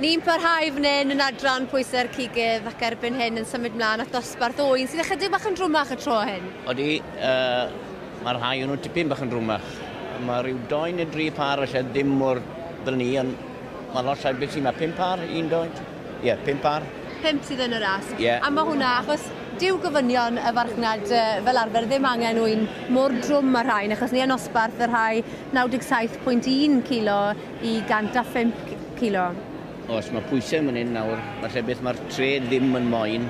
Ni'n parhau fan hyn yn adran pwysau'r cigydd ac erbyn hyn yn symud mlaen at dosbarth oen sydd ychydig bach yn drwmach y tro hyn. Oeddi, uh, mae'r rhai o'n nhw tipyn bach yn drwmach. Mae rhyw doi neu dri par felly ddim mor ddyn ni, ond mae lot llai beth sy'n mae pum par, un doed. Ie, pump ar? Pump sydd yn y ras. Ie. A mae hwnna, achos dyw gofynion y farchnad yy, fel arfer ddim angen ŵyn mor drwm â'r rhain, achos ni a nosbarth y rhai 97.1 kilo i 105 kilo. Oes, mae pwysau yn fan hyn nawr. Mae lle beth mae'r trad ddim yn moyn.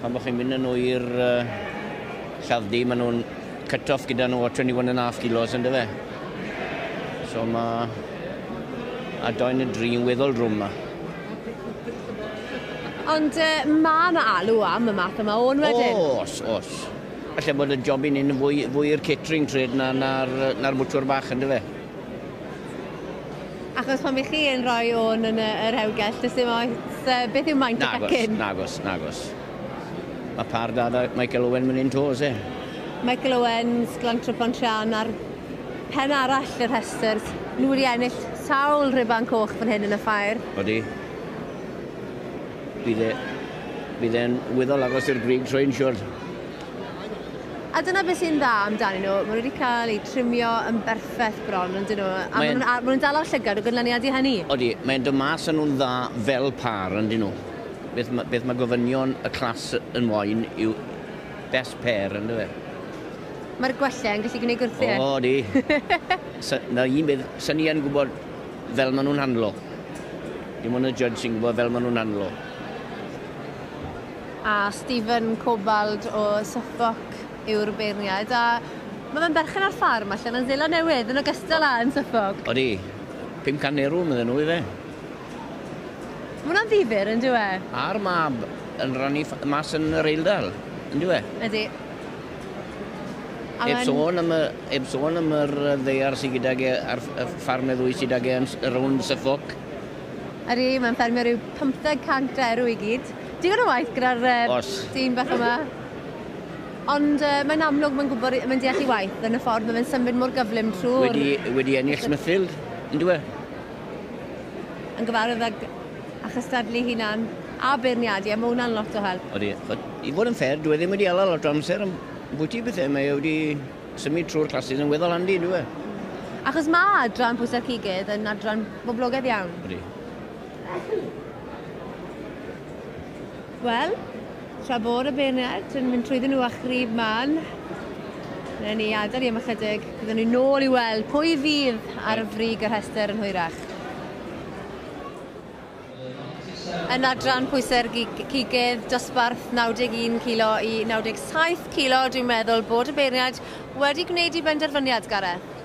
Pan bod chi'n mynd yn nhw i'r yy, lladd-dy, maen nhw'n Cut-off gyda nhw o 21 and a half kilos yn dyfe. So mae a doen y dri yn weddol drwm yma. Ond uh, mae yna alw am y math yma o'n wedyn? Os, os. Felly bod y job i ni'n fwy, fwy i'r catering trade na'r na, na, na bwtwr bach yn dyfe. Achos pan bych chi yn rhoi o'n yn y, yr hewgell, dys dim oes, uh, beth yw maint y pecyn? Nagos, nagos, nagos. Mae pâr da da Michael Owen myn hyn to oes e? Michael Owens, Glantro Pontryarn ar pen arall y rhestr. Nhw wedi ennill sawl rhuban coch fan hyn yn y ffair. Odi. Bydd e... bydd e'n wyddol agos i'r brig trwy'n siwr. A dyna beth sy'n dda amdanyn nhw, maen nhw wedi cael eu trimio yn berffaith bron, yn dyn nhw, a maen nhw'n dal â'r llygad o gynlyniad i hynny. Odi, mae'n dod mas yn nhw'n dda fel pâr, yn dyn nhw. Beth ma, beth ma gofynion y clas yn moyn yw best pair, yn dyfe? Mae'r gwelliau yn gallu gwneud gwrthiau. O, di. Sa, na un beth, sa'n ni yn gwybod fel maen nhw'n handlo. Dim ond y judge sy'n gwybod fel maen nhw'n handlo. A Stephen Cobald o Suffolk yw'r beirniad, a mae fe'n berchen ar ffarm allan yn Seland Newydd, yn ogystal â yn Suffolk. Odi. 500 erw, medden nhw, ife? Mae hwnna'n ddifyr, yn dyw e? A'r mab yn rannu ff- mas yn yr Eildal, yn dyw e? Ydy. A Heb mae'n... sôn am y, heb sôn am yr yy, ddaear sy gydag e a'r ff- y ffarm y ddwy sydd ag e yn s- rownd Suffolk. Ydy, mae'n ffermio rhyw 500 derw i gyd. Digon o waith gyda'r yy, Os. dyn bach yma. Ond yy, mae'n amlwg mae'n gwybod, i- mae'n deall ei waith yn y ffordd mae fe'n symud mor gyflym trwy'r... Wedi, wedi ennill Smithfield, yn dyw e? yn gyfarwydd ag a chystadlu hunan a beirniadu a ma' hwnna'n lot o help. Odi, ch'od i fod yn fair dyw e ddim wedi ala lot o amser am bwyty pethe mae e wedi symud trwy'r classes yn weddol handi yndyw e? Achos ma' adran pwysa cigydd yn adran boblogedd iawn. Odi. Wel, tra bod y bayonet yn mynd trwyddyn nhw a chrib man, wnawn ni adael i am ychydig. Byddwn ni nôl i weld pwy fydd ar y frig y rhestr yn hwyrach. Yn adran pwysau'r cigydd, dosbarth 91 kilo i 97 kilo, dwi'n meddwl bod y beirniaid wedi gwneud i benderfyniad, Gareth.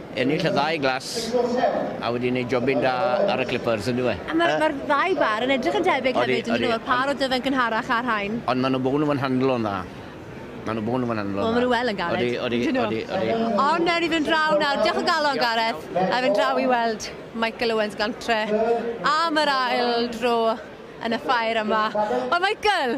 Ennill y ddau glas a wedi neud jobyn da ar y Clippers yndyw e? A ma'r ma'r ddau bar yn edrych yn debyg hefyd ydyn nhw? Yr par o Dyfed gynharach a'r rhain. Ond ma' nhw bo'n nhw'n handlo'n dda. Ma' nhw bo'n nhw'n handlo'n dda. Wel ma' nhw wel yn galed. Odi odi odi odi odi. Ond newn ni fynd draw nawr. Diolch o galon Gareth. A fynd draw i weld Michael Owens gantre am yr ail dro yn y ffair yma. Wel Michael!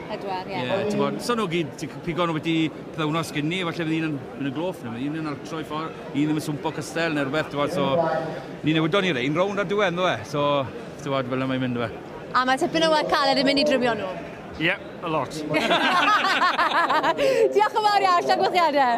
Pedwar, ie. Ie, ti'n bod, so nhw gyd, pigo nhw beti pethau sgyn ni, falle fydd un yn mynd yn gloff, neu un yn arctro i ffordd, un ddim yn swmpo cystel neu rhywbeth, ti'n bod, so... Ni newydon ni rein rownd ar diwedd, nhw e, so, ti'n bod, fel yna mae'n mynd, nhw e. A mae tipyn o waith caled yn mynd i drymio nhw? Ie, yeah, a lot. Diolch yn fawr iawn, llongyflliadau.